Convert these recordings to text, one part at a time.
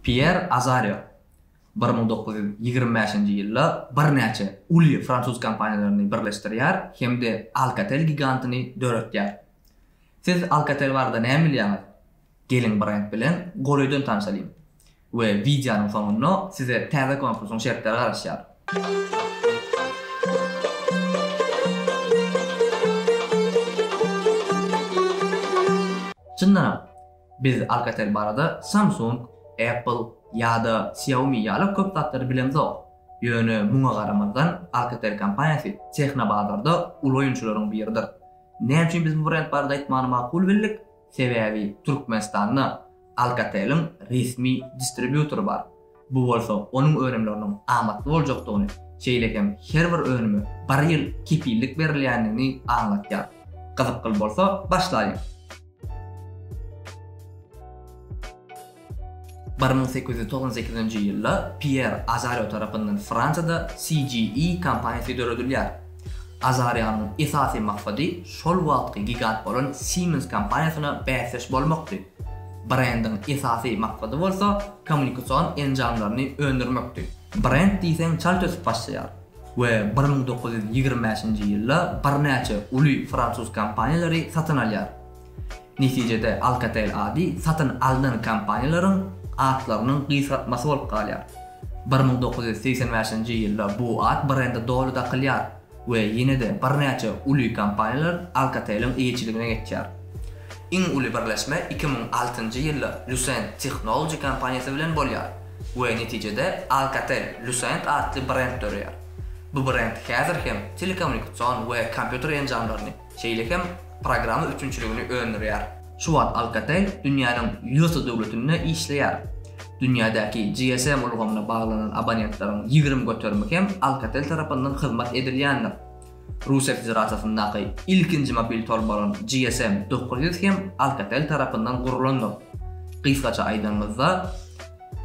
Pýer Azarýo bir müň dokuz ýüz ýigrimi bäşinji ýylda birnäçe uly fransuz kompaniýalaryny birleşdirýär hem-de Alcatel gigantyny döretýär. Siz Alcatel barada näme bilýäňiz? Geliň brend bilen golaýdan tanşalyň we wideonyň soňunda size täze konkursyň şertleri garaşýar. Çyndanam, Biz Alcatel barada Samsung, Apple ýa-da Xiaomi ýaly köp zatlary bilemzok. Ýöne muňa garamazdan Alcatel kompaniýasy tehnobazarda uly oýunçylaryň biridir. Näme üçin biz bu brend barada aýtmany makul bildik? Sebäbi Türkmenistanda Alcateliň resmi distribýutory bar. Bu bolsa onuň önümleriniň amatly boljakdygyny, şeýle hem her bir önüme bir ýyl kepillik berilýändigini aňlatýar. Gyzykly bolsa, başlaýyň! Bir müň sekiz ýüz togsan sekizinji ýylda Pýer Azario tarapyndan Fransiýada CGE kompaniýasy döredilýär. Azarianyň esasy maksady şol wagtky gigant bolan Siemens kompaniýasyna bäsdeş bolmakdy. Brendiň esasy maksady bolsa kommunikasion enjamlaryny öndürmekdi. Brend diýseň çalt ösüp başlaýar we bir müň dokuz ýüz ýigrimi bäşinji ýylda birnäçe uly fransuz kompaniýalary satyn alýar. Netijede Alcatel ady satyn alnan kompaniýalaryň atlarynyň gysgaltmasy bolup galýar. Bir müň dokuz ýüz segsen bäşinji ýylda bu at brende doly dakylýar we ýene-de birnäçe uly kompaniýalar Alcatel-iň eýeçiligine geçýär. Iň uly birleşme iki müň altynjy ýylda Lucent Technology kompaniýasy bilen bolýar we netijede Alcatel Lucent atly brend döreýär. Bu brend häzir hem telekommunikasion we kompýuter enjamlaryny, Şeýle hem programma üpjünçiligini öndürýär. Şu wagt Alcatel dünýäniň ýüz döwletinde işleýär. Dünýädäki GSM ulgamyna baglanan abonentlaryň ýigrimi göterimi hem Alcatel tarapyndan hyzmat edilýändir. Russiýa Federasiýasyndaky ilkinji mobil tor bolan GSM dokuz ýüz hem Alcatel tarapyndan gurlandyr. Gysgaça aýdanymyzda,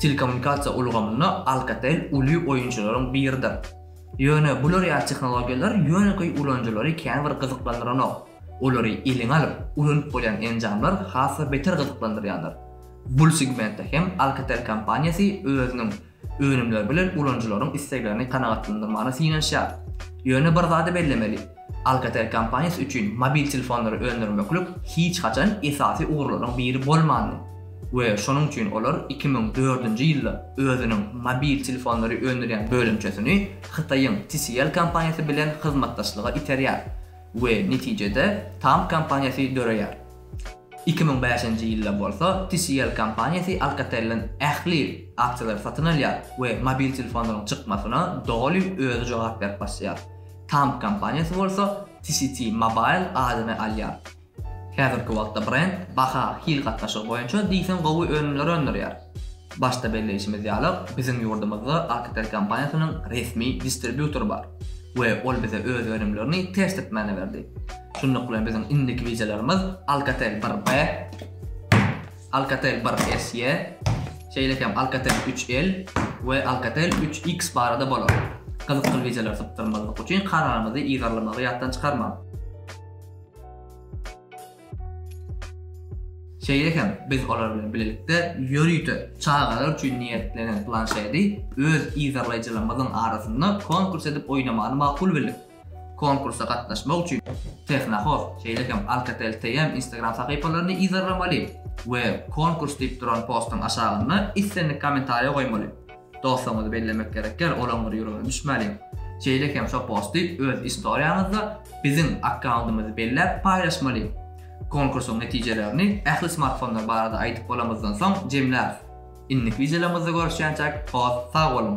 telekommunikasiýa ulgamynda Alcatel uly oýunçylaryň biridir. Ýöne bular ýaly tehnologiýalar ýönekeý ulanyjylary käbir gyzyklandyranok. Olary eliňe alyp, ulanyp bolýan enjamlar has-da beter gyzyklandyrýarlar. Bul segmentde hem Alcatel kompaniýasy özüniň önümleri bilen ulanyjylaryň isleglerini kanagatlandyrmaga synanyşýar. Ýöne bir zady bellemeli, Alcatel kompaniýasy üçin mobil telefonlary öndürmeklik hiç haçan esasy ugurlaryň biri bolmandy we şonuň üçin olar iki müň dördünji ýylda özüniň mobil telefonlary öndürýän bölümçesini Hytaýyň TCL kompaniýasy bilen hyzmatdaşlyga iterýär we netijede Tam kompaniýasy döreýär. Iki müň bäşinji ýylda bolsa TCL kompaniýasy Alcatelden ähli aksiýalary satyn alýar we mobil telefonlaryň çykmasyna doly özi jogap berip başlaýar. Tank kompaniýasy bolsa TCT Mobile adyny alýar. Häzirki wagtda brend baha, hil gatnaşygy boýunça diýseň gowy önümleri öndürýär. Başda belleýşimiz ýaly, biziň ýurdumyzda Alcatel kompaniýasynyň resmi distribýutory bar we ol bize öz önümlerini testitmäne berdi. Şunluk bilen biziň indiki wideolarymyz Alcatel bir B. Alcatel 1SE, şeýle hem Alcatel 3L we Alcatel 3X barada bolar. Gyzykly wideolary sypdyrmazlyk üçin kanalymyzy yzarlamagy ýatdan çykarmaň. Şeýle hem biz olar bilen bilelikde ýörite çagalar üçin niýetlenen planşedi öz yzarlaýjylarymyzyň arasynda konkurs edip oýnamany makul bildik. Konkursa gatnaşmak üçin Tehnohost, şeýle hem Alcatel TM Instagram sahypalaryny yzarlamaly we Konkurs diýip duran postuň aşagyna islendik kommentariýa goýmaly. Dostuňyzy bellemek gerekýär, olaň bir ýüregine düşmäliň. Şeýle hem şo posty öz istoriýaňyzda biziň akkauntymyzy belläp paýlaşmaly. Konkursyň netijelerini ähli smartfonlar barada aýdyp bolamyzdan soň jemläris. Indiki wideolarymyzda görüşýänçäk, hoş sag boluň!